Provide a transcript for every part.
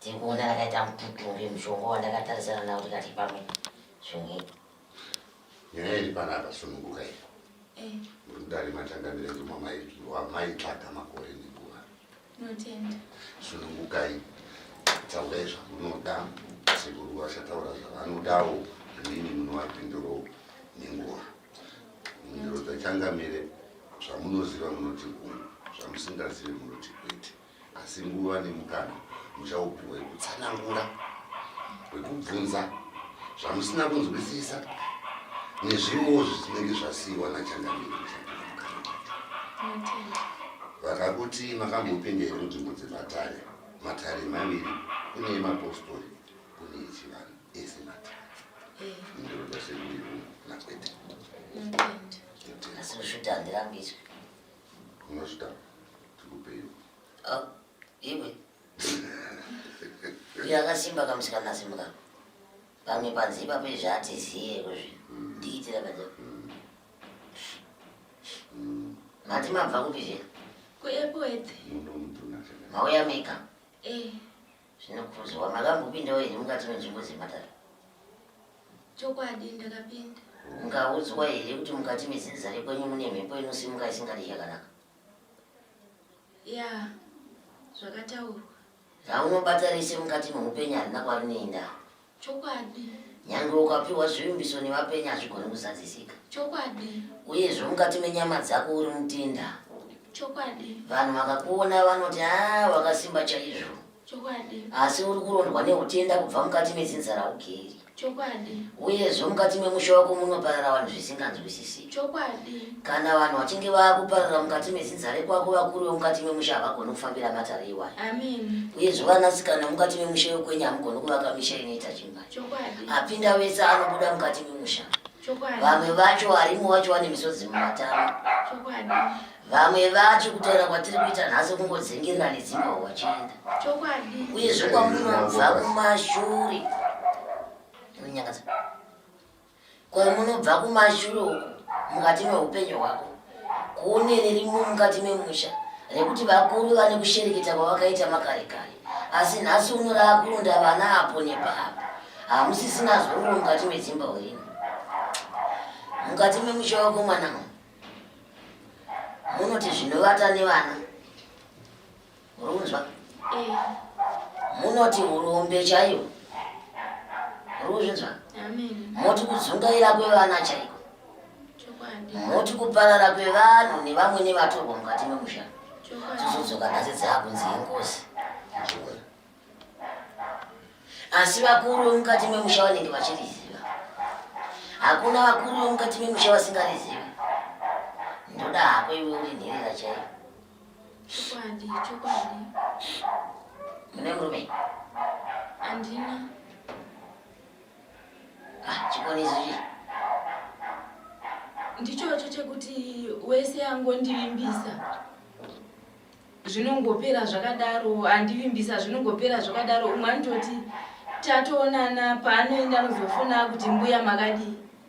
tiri kuona rakaita mututumbi mushonga wandakatarisana nawo tikati pamwe sununguka nyaya iri panapa sununguka iri eh. muri kudari matangamira ndimwa maitsvaga makore nenguva sunungukai taurai zvamunoda sekuru vachataura zvavanodawo inini munovapinduro nenguva mhinduro dzachangamire zvamunoziva munoti uyu zvamusingazivi munoti kwete asi nguva nemukana muchaupiwa yekutsanangura wekubvunza zvamusina kunzwisisa nezvimwewo zvisinenge zvasiiwa nachangamire vakakuti makambopinda here munzvimbo dzematare matare maviri kune emapostori kune echivanhu ese matare eh. ndinoda sekuiu nakwete asi kushuti handirambidzwe Ah, iwe uyo akasimba kamusikana asimuka pamwe panze ipapo izvi hatiziye kuzvi ndiitira kaja mati mabva kupi zve kuepwete mauya mika eh. zvinokurudzirwa makambopindawo here mukati menzvimbo dzematare chokwadi ndakapinda mukaudzwa here kuti mukati mezinza rekwenyu mune mhepo inosimuka isingadi chakanaka ya zvakataurwa raunobata rese mukati meupenyu harina kwarineindaa Chokwadi. Nyange ukapiwa zvivimbiso nevapenyu hazvigoni kuzadzisika. Chokwadi. Uyezve mukati menyama dzako uri mutinda. Chokwadi. Vanhu vakakuona vanoti a ah, wakasimba chaizvo. Chokwadi. Asi uri kurondwa neutenda kubva mukati medzinza raugeri. Chokwadi. Uyezve mukati memusha wako munoparara vanhu zvisinganzwisisi. chokwadi kana vanhu vachinge vakuparira mukati mezinza rekwako vakuru vemukati memusha havagoni kufambira matare iwayo uyezve vanasikana mukati memusha yokwenyu hamugoni kuvaka misha inoita chimba apinda vese anobuda mukati memusha vamwe vacho varimo vacho vane misodzi mumatama vamwe vacho kutaura kwatiri kuita nhasi kungodzengerera nedzimba wachienda uyezve kwamunobva kumashure inonyangadza Kwamunobva kumashure uko mukati meupenyu hwako kune ririmo mukati memusha rekuti vakuru vane kushereketa kwavakaita makare kare asi nhasi uno raakurunda vana apo nepaapo hamusisina zororo mukati medzimba urino mukati memusha wako mwana munoti zvinovata nevana Murukunzwa? Eh. Munoti hurombe chaiyo. Murukunzwa? Amen. Moti kudzungaira kwevana chaiko. Chokwadi. Moti kuparara kwevanhu nevamwe nevatorwa mukati memusha. Chokwadi. Tizodzoka nhasi dzakunzi ingozi. Chokwadi asi vakuru vemukati memusha vanenge vachiriziva hakuna vakuru vemukati memusha vasingarizivi ndoda hako iwe uri nherera chaiyo Chokwadi, chokwadi. Une murume? Andina. Ah, chikonezi chii? Ndichocho chekuti wese angondivimbisa zvinongopera zvakadaro andivimbisa zvinongopera zvakadaro umwe anototi tatoonana paanoenda anozofona kuti mbuya makadii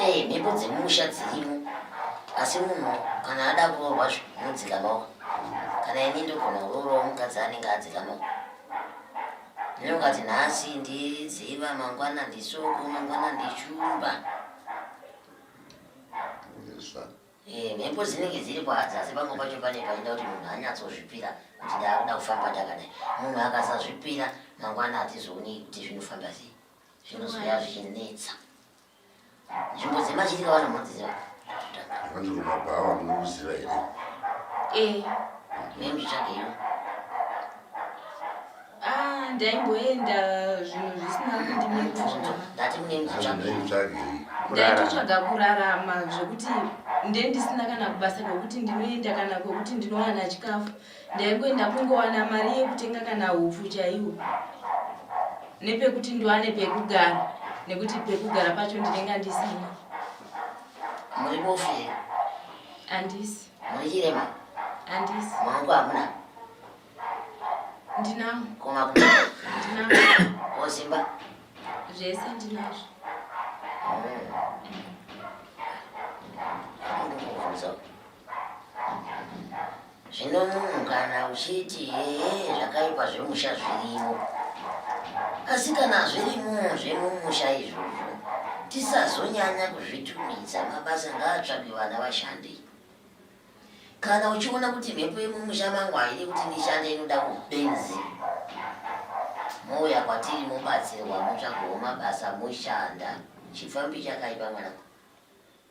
ee mhepo dzemumusha dzirimo asi munhu kana ada kuroorwa zvinodzikamawo kana ini ndogona kuroorwa mukadzi anenge adzikamawo ndinokati nhasi ndiziva mangwana ndisoko mangwana ndichuba eh, mhepo dzinenge dziri paadzi asi pamwe pacho pane paida kuti munhu anyatsozvipira kuti ndaakuda kufamba ndakadai munhu akasazvipira mangwana hatizoonei kuti zvinofamba sei zvinozouya zvichinetsa nzvimbo dzemachitika vana munodziziva vandiruma bhawa munoziva here ee eh, nemzvitsvageiwo ah, ndaimboenda zvinhu zvisina kundimiraaitotsvaga kurarama zvekuti ndendisina kana kubasa kwekuti ndinoenda kana kwekuti ndinowana chikafu ndaingoenda kungowana mari yekutenga kana hupfu chaiwo nepekuti ndiwane pekugara nekuti pekugara pacho ndinenge andisina muribofira andisi murichirema andisi maoko hamuna ndinawo koma ndinawo osimba zvese ndinazvo Zvino munhu kana uchiti ee zvakaipa zvemusha zviriwo, asi kana zvirimo zvemumusha izvozvo tisazonyanya kuzvitumidza, mabasa ngaatsvage vana vashandi. Kana uchiona kuti mhepo yemumusha mangu haidi kuti ndishande inoda kubenzi, mouya kwatiri mobatsirwa motsvagawo mabasa moshanda. Chipfambi chakaipa mwanangu.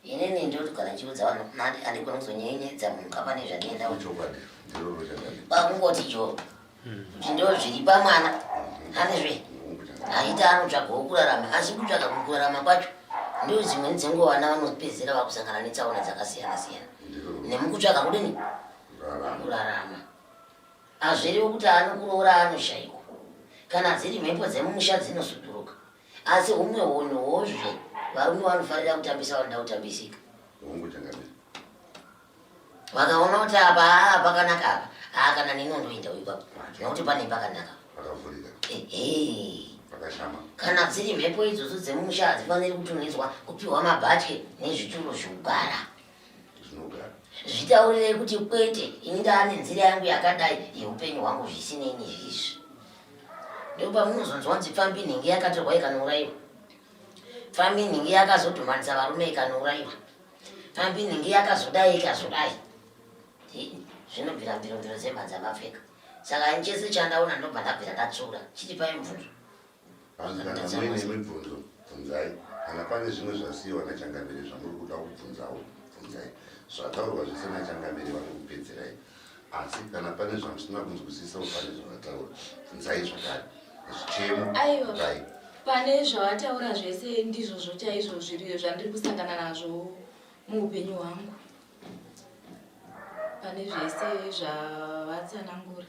inini ndiri kugara ndichiudza vanhu mati andigona kuzonyenyedza munhu kavane zvandienda chokwadi ndiroro chakadi kwakungoti jo kuti ndo zviri pamwana andizve aiti anotsvagawo kurarama asi kutsvaga kurarama kwacho ndo dzimweni dzenguva vana vanopedzera vakusangana netsaona dzakasiyana siyana nemukutsvaga kudini kurarama hazviriwo kuti anokuroora anoshaikwa kana dziri mhepo dzemumusha dzinosuduruka Asi humwe hunhu hozvo varume vanofarira kutambisa vanoda kutambisika. Hongu changamire. Vakaona kuti apa haa ah, pakanaka apa. Haa ah, kana nini undoinda uyu ipapo. Nokuti pane pakanaka. Pakavhurika. Ehe. Pakashama. Kana dziri mhepo idzodzo dzemumusha hadzifaniri kutumidzwa kupiwa mabhatye nezvituro zvokugara. zvitaurirei kuti kwete ini ndaane nzira yangu yakadai yeupenyu hwangu zvisinei nezvizvi ndopamunozonzwa nzi pfambi nhingi yakatorwa ikanouraiwa pfambi nhingi yakazodhumanisa varume ikanouraiwa pfambi nhingi yakazodai ikazodai zvinobvira mbirombiro dzemhanza mapfeka saka ini chese chandaona ndobva ndabvira ndatsura chitipai mubvunzo Hanzi kana muine mibvunzo bvunzai, kana pane zvimwe zvasiyiwa nachangamire zvamuri kuda kubvunzawo bvunzai. Zvataurwa zvese nachangamire vari kupedzerai, asi kana pane zvamusina kunzwisisawo pane zvavataura bvunzai zvakare. Zvichemo dai pane zvavataura zvese ndizvozvo chaizvo zviri zvandiri kusangana nazvo muupenyu hwangu pane zvese zvavatsanangura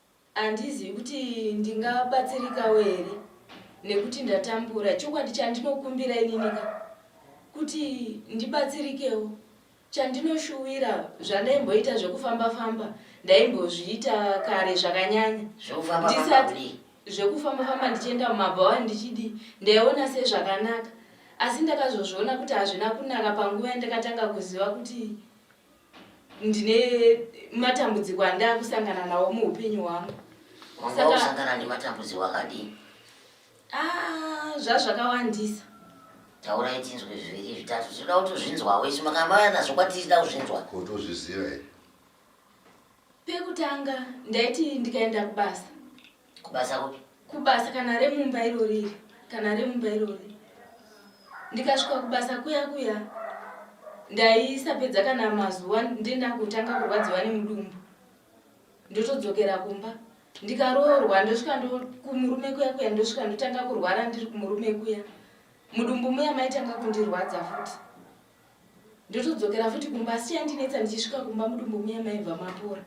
Handizivi kuti ndingabatsirikawo here nekuti ndatambura. Chokwadi chandinokumbira ininika kuti ndibatsirikewo. Chandinoshuwira zvandaimboita zvekufamba famba ndaimbozviita kare zvakanyanya. Zvekufamba famba zvekufamba famba ndichienda mumabhawa ndichidi ndaiona sezvakanaka asi ndakazozviona kuti hazvina kunaka panguva yandakatanga kuziva kuti ndine matambudziko andaa kusangana nawo muupenyu hwangu usangana nematambudziko akadii ah, zvazvakawandisa taurai tinzwe zviviri zvitatu zvinoda kuti uzvinzwawo isu makamauya nazvo kwatichida kuzvinzwa kuti uzvizive pekutanga ndaiti ndikaenda kubasa kubasa kupi kubasa kana remumba iro riri kana remumba iro riri ndikasvika kubasa kuya kuya ndaisapedza kana mazuva ndenda kutanga kurwadziwa nemudumbu ndotodzokera kumba ndikaroorwa ndosvika kumurume kuya kuya ndosvika ndotanga kurwara ndiri kumurume kuya mudumbu muya maitanga kundirwadza futi ndotodzokera futi kumba asi chandinetsa ndichisvika kumba mudumbu muya maibva mapora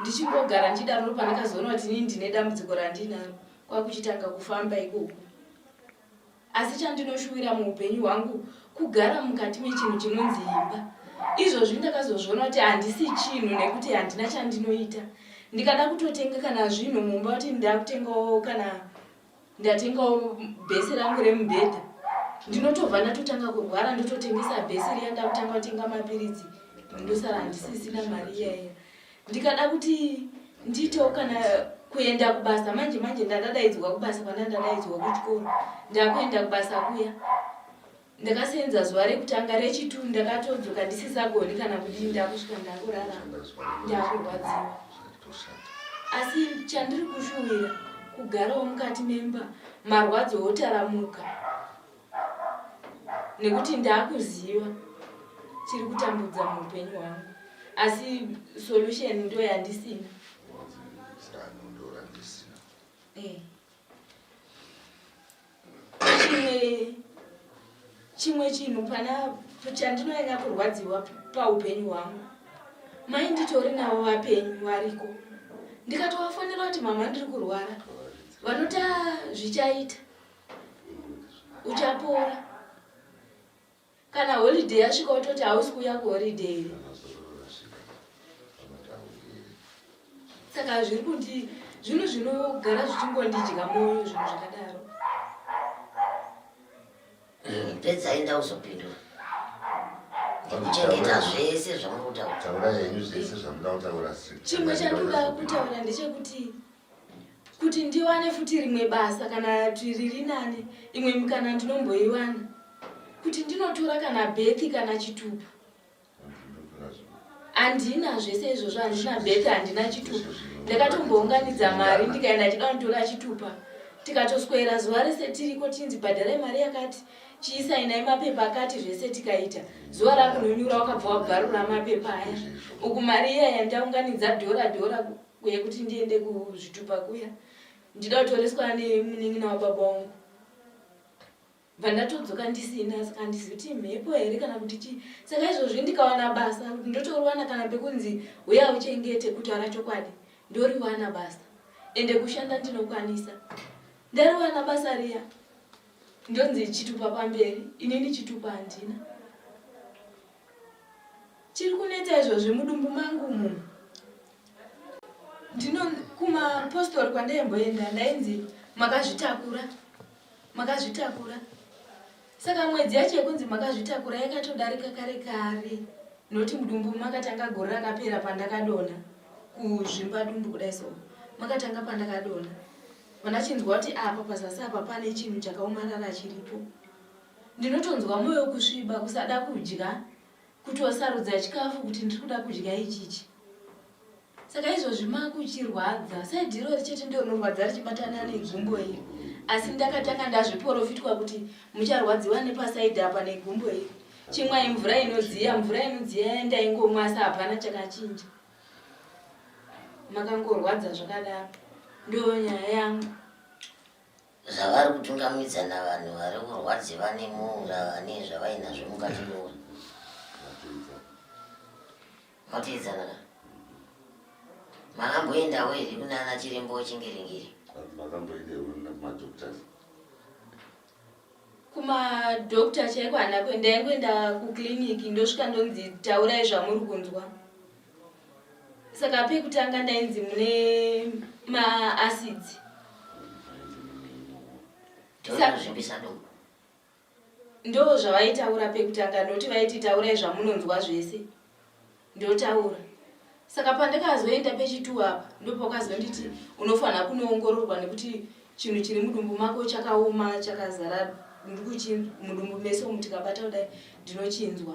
ndichingogara ndichidaro pandakazoona kuti inini ndine dambudziko randinaro kwakuchitanga kufamba ikoko asi chandinoshuwira muupenyu hwangu kugara mukati mechinhu chinonzi imba izvozvi ndakazozviona kuti handisi chinhu nekuti handina chandinoita ndikada kutotenga kana zvinhu mumba kuti ndakutengawo kana ndatengawo bhesi rangu remubhedha ndinotobva ndatotanga kurwara ndototengesa bhesi riya ndakutanga kutenga mapiritsi ndosara ndisisina mari iyaiya ndikada kuti ndiitewo kana kuenda kubasa manje manje ndandadaidzwa kubasa kwandandadaidzwa kuchikoro ndakuenda kubasa kuya Ndakaseenza zuva rekutanga rechitu ndakatodzoka ndisisagoni kana kudii ndakusvika ndakurara ndakurwadziwa asi chandiri kushuwira kugarawo mukati memba marwadzo otaramuka nekuti ndakuziva chiri kutambudza muupenyu hwangu asi solution ndo yandisina chimwe chinhu pana chandinonyanya kurwadziwa paupenyu hwangu mai nditori navo vapenyu variko ndikatovafonera kuti mama ndiri kurwara vanoti zvichaita uchapora Kana holiday yasvika wototi hausi kuuya kuholiday iri. Saka zviri kundi zvinhu zvinogara zvichingondidya moyo zvinhu zvakadaro. Mm, pedzai ndauzopindura. Ndikuchengeta zvese zvamuri kutaura. Taurai henyu zvese zvamuda kutaura. Chimwe chandoda kutaura ndechekuti kuti ndiwane futi rimwe basa kana kuti riri nani imwe mikana ndinomboiwana kuti ndinotora kana bethi kana chitupa handina zvese izvozvo handina bethi handina chitupa ndakatombounganidza mari ndikaenda chida kunditora chitupa tikatoswera zuva rese tiriko tinzi bhadharai mari yakati chiisainai mapepa akati zvese tikaita zuva rakunonyura wakabva wabvarura mapepa aya uku mari iya yandaunganidza dhora dhora uye kuti ndiende kuzvitupa kuya ndida kutoreswa nemunin'ina wababa wangu vandatodzoka ndisina saka handisi kuti mhepo here kana kuti chii saka izvozvi ndikawana basa ndotorowana kana pekunzi huya uchengete kutaura chokwadi ndoriwana basa ende kushanda ndinokwanisa ndariwana basa riya ndonzi chitupa pamberi inini chitupa handina Chiri kuneta izvozvi mudumbu mangu umu. Ndino kumapostori kwandaimboenda ndainzi makazvitakura. Makazvitakura. Saka mwedzi yacho yekunzi makazvitakura yakatodarika kare kare. Noti mudumbu makatanga gore rakapera pandakadona kuzvimba dumbu kudai so. Makatanga pandakadona. Vanachinzwa kuti apa pazasi apa pane chinhu chakaomarara chiripo. Ndinotonzwa moyo kusviba kusada kudya kutosarudza chikafu kuti ndiri kuda kudya ichichi saka izvozvi makuchirwadza saidhiro richete ndororwadza richibatana negumbo iri asi ndakatanga ndazviporofitwa kuti mucharwadziwa nepasaidhi apa negumbo iri chimwai mvura inodziya mvura inodziya yandaingomwa asi hapana chakachinja makangorwadza zvakadaro ndonyaya yangu zvavari kutungamidza navanhu vari kurwadziva nemuura vane zvavainazvo mukati meura matoedzana ka makamboendawo here kunana chirembo chingiringiri kumadokta chaiko hana kuenda yangoenda kuclinic ndosvika ndonzi taurai zvamuri kunzwa saka pekutanga ndainzi mune maacids ndo zvavaitaura pekutanga ndoti vaiti taurai zvamunonzwa zvese ndotaura saka pandakazoenda pechitu apa ndopakazonditi unofanira kunoongororwa nekuti chinhu chiri mudumbu mako chakaoma chakazara ndikuchinzwa mudumbu mese umu tikabata kudai ndinochinzwa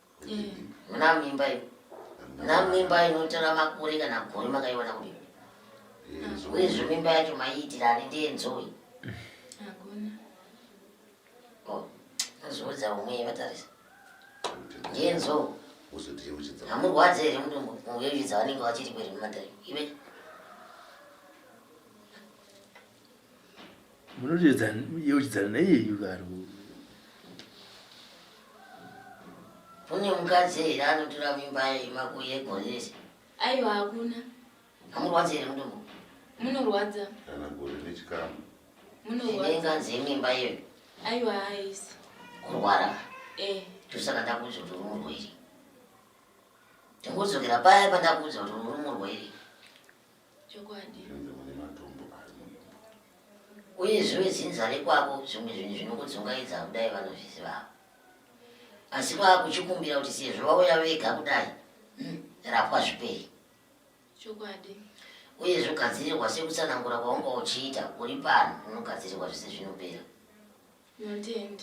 muna mimba iyo muna mimba inotora makore kana gore makaiwana kudii uyezve mimba yacho maiitira ani ndiye nzoi nozviudza umwe vatarisa ndiye nzou hamurwadze here mudumbu muvevidza vanenge vachiri kweri mumatari ive munoyeuchidzana naiyeyu karo kune mukadzi here anotora mimba yemakuyegonese aiwa hakuna amurwadzi here mutombo munorwadza kana gore nechikamu munorwadzainganzi imimba iyoyo aiwa haisi kurwara eh. tosaka ndakuudza kuti uri murwere ndingodzokera paya pandakuudza kuti uri murwere Chokwadi. Zvinzi mune matombo ari munhumbu. Uye zviwe dzinza rekwavo zvimwe zvinhu zvinokudzungaidza kudai vanozvizivawo. Asi vakuchikumbira kuti sezvo vauya vega kudai, hmm, rapwa zvipei. Chokwadi. Uye zvogadzirirwa sekutsanangura kwaunga uchiita uri pano unogadzirirwa zvese zvinopera.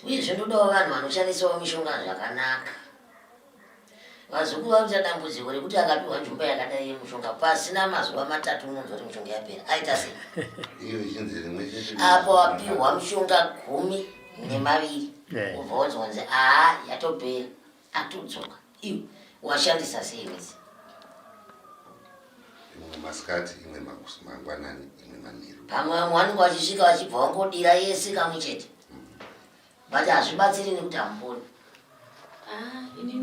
Uyezve ndodawo vanhu vanoshandisawo mishonga zvakanaka. Vazukuru vari kuita dambudziko rekuti akapiwa nzvimbo yakadai yemushonga pasina mazuva matatu unonzwa kuti mishonga yapera aita sei apo wapiwa mushonga gumi nemaviri ubva wonzwanzi aa yatopera atodzoka iwe washandisa sei wese imwe masikati imwe mangwanani imwe manheru pamwe vamwe vanenge vachisvika vachibva vangodira yese kamwe chete but hazvibatsiri nekuti hamuponi ah, ini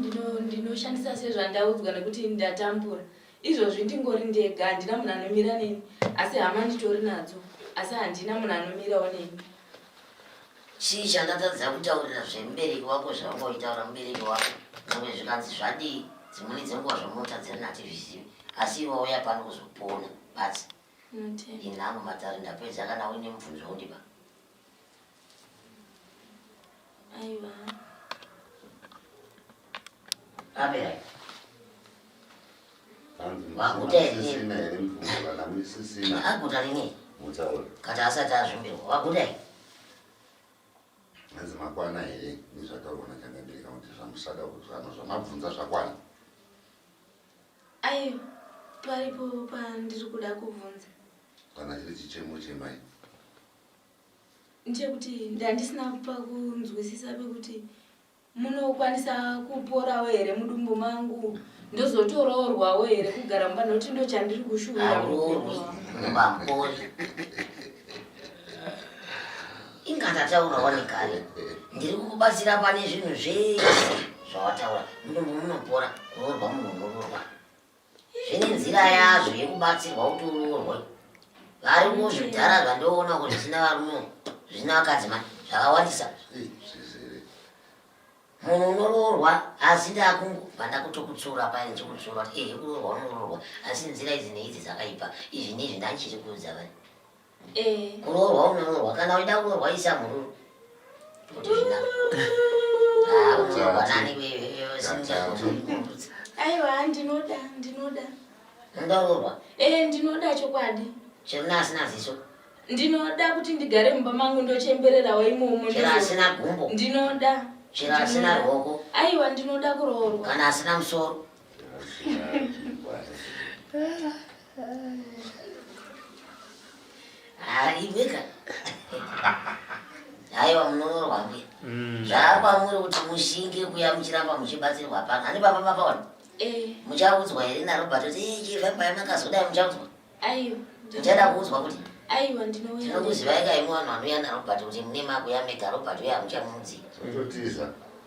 ndinoshandisa sezvandaudzwa nekuti ndatambura izvozvi ndingori ndega handina munhu anomira neni asi hama nditori nadzo asi handina munhu anomirawo neni Chii chandatadza kutaurira zvemubereki wako zvavanga uchitaura mubereki wako zvamwe zvikanzi zvadii dzimweni dzenguva zvamunotadzira nativizivi asi iwe wauya pano kuzopona basi inhango matare ndapedza kana uine mubvunzo undiba aiwa aberai kati asati azvimbirwa waguta i hanzi makwana here nezvataurwa nachangabereka kuti zvamusada kuzvano zvamabvunza zvakwana ai paripo pandiri kuda kubvunza kana chiri chichemo chemai ndechekuti ndandisina pakunzwisisa pekuti munokwanisa kuporawo here mudumbu mangu ndozotoroorwawo here kugara mumba nokuti ndo chandiri kushuura ingatataura wanekare ndiri kukubatsira pane zvinhu zvese zvawataura mudumbu munopora kuroorwa munhu unororwa zvine nzira yazvo yekubatsirwa kuti uroorwe vari muzvidhara zvandoona kuti zvisina varume zvisina vakadzi mani zvakawandisa munhu unoroorwa asi ndakungobva ndakutokutsura paye ndichikutsura kuti ehe kuroorwa unoroorwa asi nzira idzi neidzi dzakaipa izvi neizvi ndandichiri kuudza vani Eh. Kuroorwa unoroorwa kana uida kuroorwa isa mururu. Ah, unoorwa nani wewe wewe singakumbudza. Aiwa ndinoda ndinoda. Ndoroorwa. Eh ndinoda chokwadi. Chemna asina ziso. Ndinoda kuti ndigare mumba mangu ndochembererawo imomo. Chera asina gumbo. Ndinoda. Chera asina ruoko. Aiwa ndinoda kuroorwa. Kana asina musoro. Haibika. Haiwa munonorwa mbuya. Mm. Zvaakwamuri kuti mushinge kuya muchiramba muchibatsirwa pano. Ani baba baba wani? Eh. Muchaudzwa here naRobert kuti eh chiva mbaya makazodai muchaudzwa? Aiwa. Muchada kuudzwa kuti? Aiwa ndinouya. Ndinokuzivai kaimwe vanhu vanouya naRobert kuti mune makuya mega Robert uya muchamuudzi. Totiza.